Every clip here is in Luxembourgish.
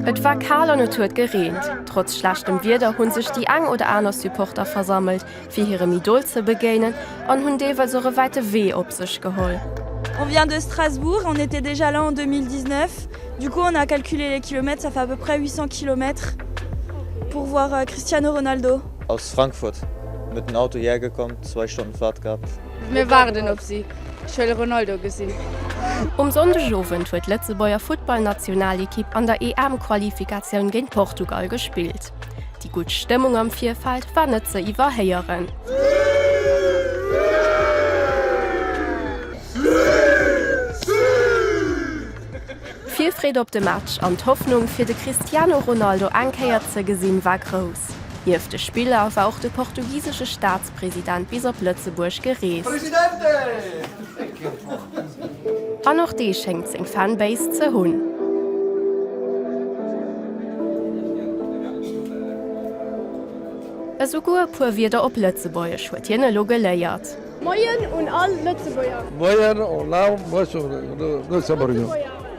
Et war kal an et huet gereent. Trotz schlechtem Wieder hunn sech déi eng oder aner Supporter versammelt fir hirem Idol ze begéinen an hunn deelweis och e wäite Wee op sech geholl. On vient de Strasbourg, on était déjà là en 2019, du coup on a calculé les kilomètres, ça fait à peu près 800 kilomètres pour voir Cristiano Ronaldo. Aus Frankfurt, met den Auto hierher gekomm, zwei Stonnen Fahrt gehabt. Mir waarden op si. Ech wëll e Ronaldo gesinn. Um Sonndegowend huet d'Lëtzebuerger Futtballnationalekipp an der EM-Qualifikatioun géint Portugal gespillt. Déi gutt Stëmmung am Virfeld war net ze iwwerhéieren. D'Virfreed op de Match an d'Hoffnung, fir de Cristiano Ronaldo eng Kéier ze gesinn, war grouss. Nieft de Spiller war och de portugisesche Staats-, President bis op Lëtzebuerg gereest. An och dee schéngt seng Fanbase ze hunn. Esouguer e puer Wierder op Lëtzebuergesch huet hien elo geléiert. Moien un all Lëtzebuerger!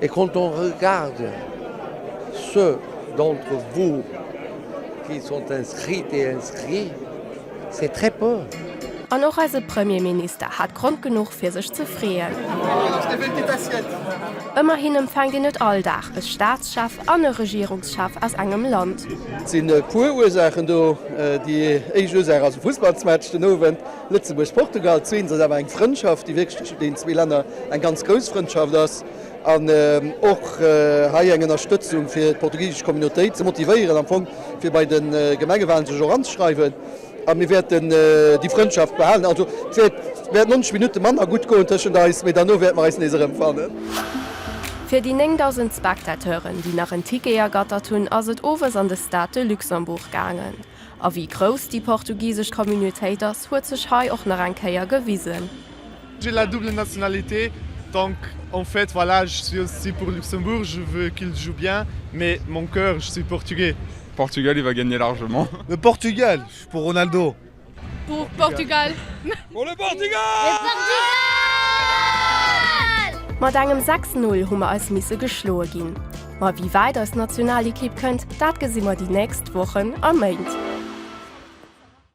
Et quand on regarde ceux d'entre vous qui sont inscrites et inscrits, c'est très peu. An och eise Premierminister hat Grond genuch fir sech ze freeën. Ëmmerhin empfänkt een net all Dag e Staatschef an e Regierungschef aus engem Land. Et sinn e puer Ursaachen do. Déi éischt Ursaach ass e Fussballsmatch den Owend. Lëtzebuerg, Portugal, zwee, ass awer eng Frëndschaft, déi wierklech tëschent deenen zwee Länner eng ganz grouss Frëndschaft ass, an och hei eng Ënnerstëtzung fir d'portugisesch Communautéit ze motivéieren, am Fong fir bei de Gemengewalen sech och anzeschreiwen. A mir wäerten déi Frëndschaft behalen. Also et wäert wäert 90 Minutte manner gutt goen tëschent eis, mee derno wäerte mer eis nees erëmfannen. Fir déi 9.000 Spectateuren, déi nach en Ticket ergattert hunn, ass et owes an de Stade de Luxembourg gaangen. A wéi grouss déi portugisesch Communautéit ass, huet sech hei och nach eng Kéier gewisen. J'ai la double nationalité, donc en fait voilà je suis aussi pour Luxembourg, je veux qu'il joue bien mais mon cœur je suis portugais. Portugal il va gagner largement. Le Portugal pour Ronaldo. Pour Portugal. Pour le Portugal! Mat engem 6, 0 hu mer eis misse geschloe ginn. Ma wéi wäit eis Nationalekipp kënnt, dat gesi mer déi nächst Wochen a Méint.